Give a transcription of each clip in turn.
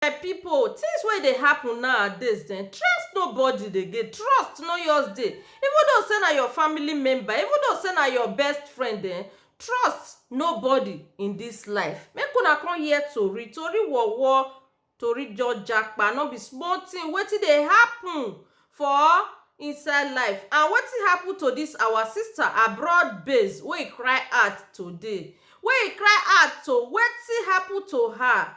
My people things wey dey happen nowadays um trust nobody again trust no just dey even though sey na your family member even though sey na your best friend um trust nobody in this life make una come hear tori tori wowo tori just japa no be small thing wetin dey happen for inside life and wetin happen to this our sister abroad base wey e cry out today wey e cry out to wetin happen to her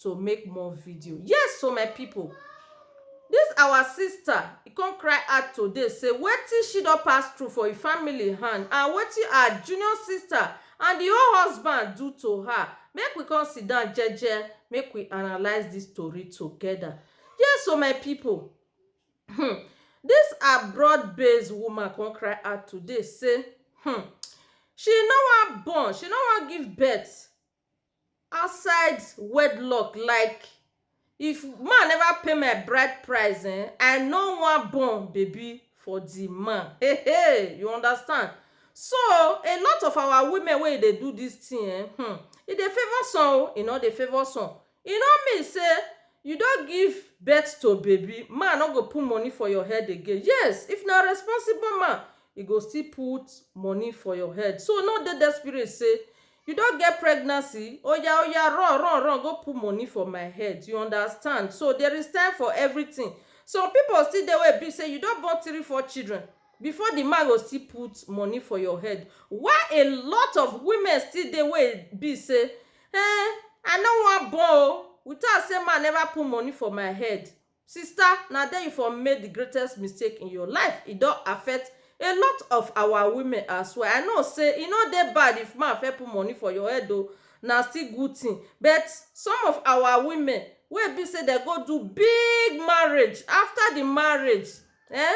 to make more video yes so my people this our sister e come cry out today say wetin she don pass through for e family hand and wetin her junior sister and the whole husband do to her make we come sit down jeje make we analyse this story together yes so my people hmm this abroad based woman come cry out today say hmm she no wan born she no wan give birth outside wedlock like if man never pay my bride price um I no wan born baby for the man hey hey you understand so a lot of our women wey dey do this thing um e dey favour some o e no dey favour some E no mean say you don give birth to baby, man no go put money for your head again. Yes, if na responsible man, e go still put money for your head. So no dey desperate say you don get pregnancy, oya oya run run run go put money for my head, you understand. So there is time for everything. Some people still dey wey e be say you don born three, four children before the man go still put money for your head. While a lot of women still dey wey e be say Eh, I no wan born o. We talk say man never put money for my head. Sister, na there you for make the greatest mistake in your life. E don affect a lot of our women as well. I know say e no dey bad if man first put money for your head o, na still good thing. But some of our women wey e be say dem go do big marriage, after the marriage, eh,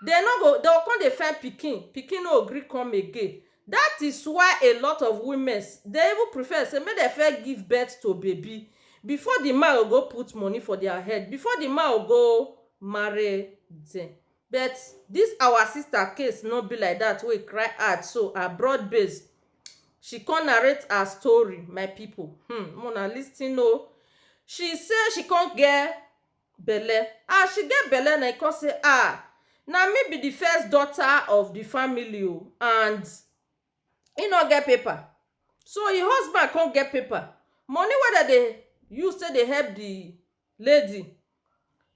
dem no go, dem go come dey find pikin, pikin no go gree come again. That is why a lot of womens dey even prefer say make dem first give birth to baby before the man go go put money for their head, before the man go go marry them. But this our sister case no be like that wey e cry out so abroad base she come narrate her story my people um make una lis ten oo. She say she come get belle as she get belle na e come say ah na me be the first daughter of the family o and e no get paper so e husband come get paper money wey dem dey use take dey help the lady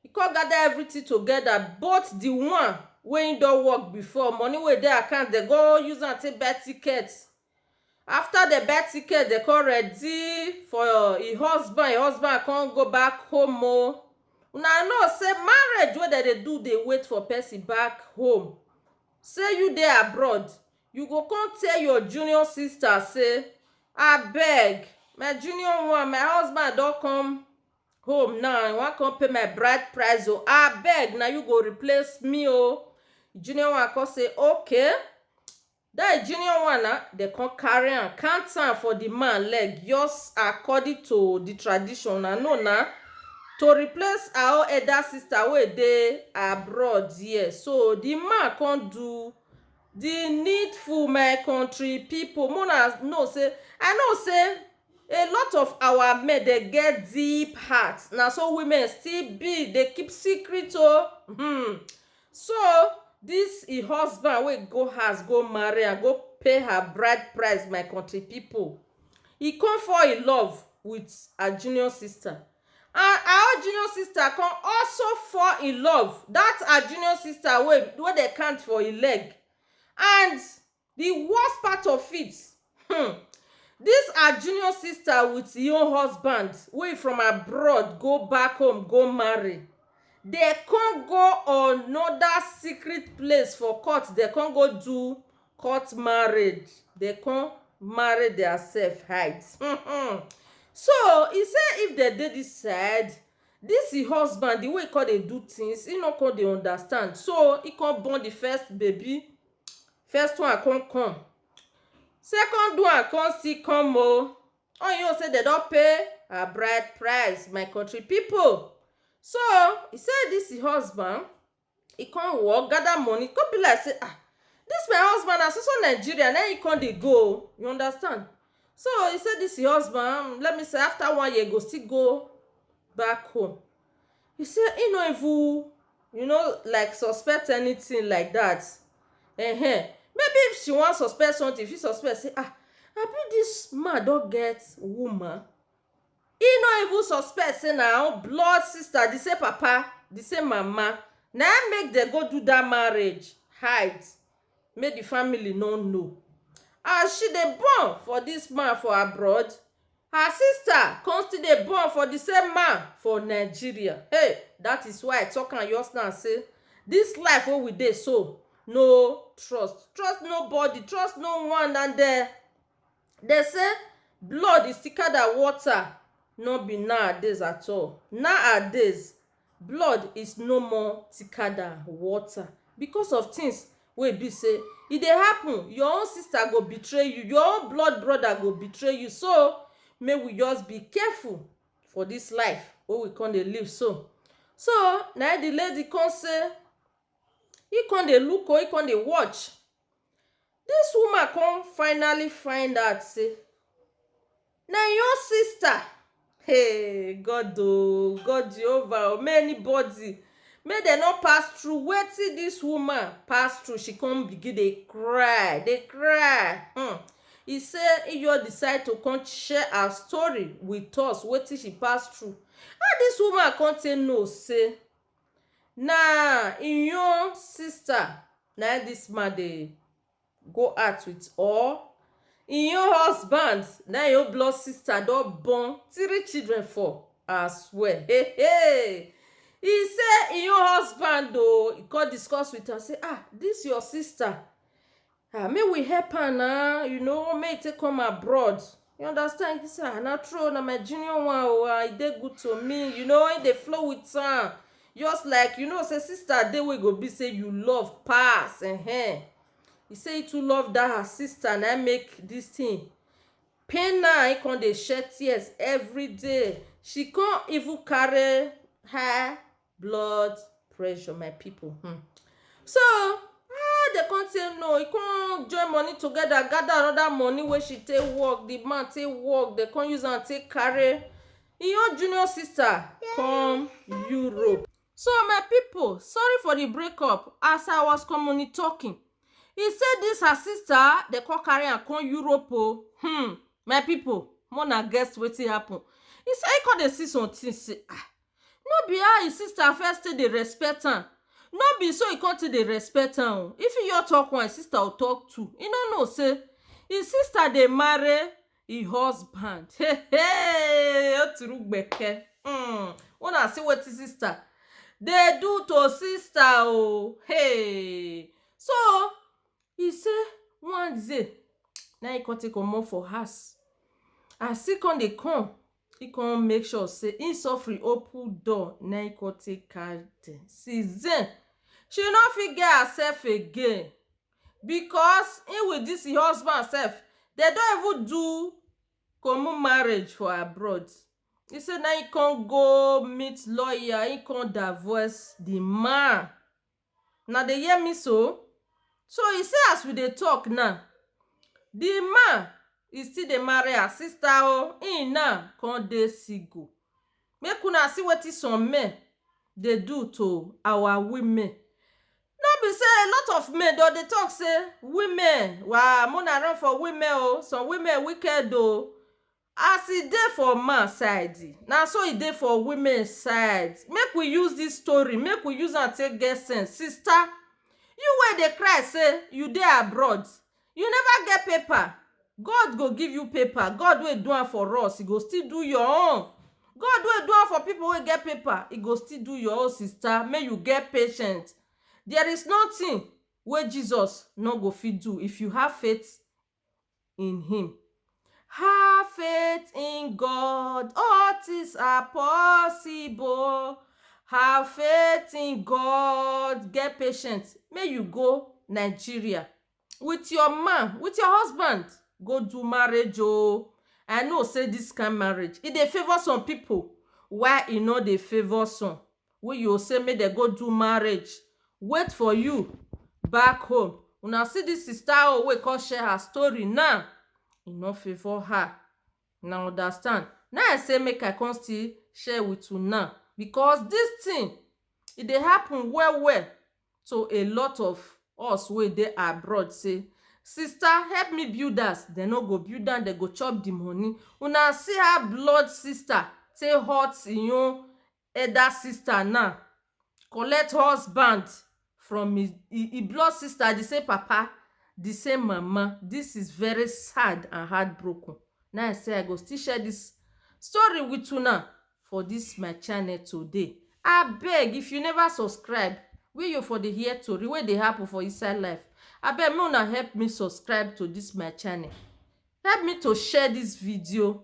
e come gather everything together both the one wey e don work before money wey dey account dem go use am take buy ticket After dem buy ticket, dem come ready for e husband, e husband come go back home o. Una know sey marriage wey dem dey do dey wait for person back home. Sey you dey abroad, you go come tell your junior sister sey abeg my junior one, my husband don come home now, e wan come pay my bride price o, abeg na you go replace me o. Junior one come say okay. That junior one na, dem come carry am count am for the man leg just according to the tradition una know na to replace her own elder sister wey dey abroad here so the man come do the needful my country people make una know say I know say a lot of our men dem get deep heart na so women still be dey keep secret o hmmm So, dis e husband wey go house go marry am, go pay her bride price my country pipu, e come fall in love wit her junior sister and her own junior sister come also fall in love, dat her junior sister wey wey dem count for im leg and Di worst part of it um dis her junior sister with e own husband wey from abroad go back home go marry dey come go another secret place for court dey come go do court marriage dey come marry their self hide um so e say if dem dey this side this e husband di way e come dey do things e no come dey understand so e come born di first baby first one come come second one come still come oh all you know sey dem don pay her bride price my country people so e say this him husband e come work gather money e come be like sey ah this my husband na so so Nigeria na him come dey go oh you understand so e say this him husband let me see after one year e go still go back home He say he no even you know like suspect anything like that um maybe if she wan suspect something if she suspect say ah abi this man don get woman he no even suspect say na own blood sister the same papa the same mama na him make dem go do that marriage hide make di family no know as she dey born for dis man for abroad, her sister come still dey born for di same man for Nigeria hey dat is why I talk am just now sey dis life wey we dey so no trust, trust nobody, trust no one and dem dem sey blood is thicker than water nor be nowadays at all. Nowadays Blood is no more thicker than water because of things wey e be sey e dey happen. Your own sister go betray you, your own blood brother go betray you. So, make we just be careful for dis life wey we con dey live so. So, na im the lady con say im con dey look o, im con dey watch Dis woman come finally find out sey na im own sister hey God oh God Jehovah oh may anybody may dem no pass through wetin dis woman pass through she come begin dey cry dey cry um e say im just decide to come share her story with us wetin she pass through how dis woman come take know sey Na im own sister na im dis man dey go out with or im own husband na im im own blood sister don born three children for aswear um e say im own husband oo e come discuss with am say ah dis your sister ah make we help am na you know make e take come abroad you understand he say ah na true oh na my junior one oh ah e dey good to me you know he dey flow with am just like you know say sister dey wey go be say you love pass ehen he say he too love that her sister na im make this thing pain am he come dey shed tears everyday she come even carry her blood pressure my people hmm. so ah they come say no he come join money together gather another money wey she take work the man take work they come use am take carry him own junior sister come europe so my people sorry for the breakup as i was commonly talking he say this her sister they come carry am come europe o hmm my people more na guess wetin happen he say he come dey see some things say ah No be how him sister first take dey respect am no be so he come take dey respect am o. If he just talk one, him sister go talk two. He no know sey him sister dey marry him husband. Hey! Hey! O turu gbeke! um Una see wetin sister dey do to sister o! Hey! So, he say one day na him come take comot for house. As he come dey come He come make sure say he suffering open door na he come take catch dem since then she no fit get herself again because he with this him husband self dem don even do common marriage for abroad he say na him come go meet lawyer he come divorce the man una dey hear me so? so e say as we dey talk now the man e still dey marry her sister o him now come dey single make una see wetin some men dey do to our women no be say a lot of men dem dey talk say women wa make una run for women o some women wicked o As e dey for man side, na so e dey for women side. Make we use dis story, make we use am take get sense. Sister, you wey dey cry sey you dey abroad, you never get paper, God go give you paper. God wey do am for us, e go still do your own. God wey do am for pipu wey get paper, e go still do your own sister. Make you get patient. There is nothing wey Jesus no go fit do if you have faith in him. Have faith in God, all things are possible. Have faith in God, get patience. May you go Nigeria with your man, with your husband, go do marriage oh. I know say this kind marriage, e dey favour some people, why e no dey favour some? wey you go say make dem go do marriage wait for you back home una see this sister oh wey come share her story now e no favour her una understand na him i say make i come still share with una because this thing e dey happen well well to a lot of us wey dey abroad say sister help me build house dem no go build am dem go chop the money una see how blood sister take hurt him own Elder sister now collect husband from his e blood sister the same papa the same mama this is very sad and heart broken na I say I go still share this story with una for this my channel today abeg if you never subscribe wey you for dey hear tori wey dey happen for inside life abeg make una help me subscribe to this my channel help me to share this video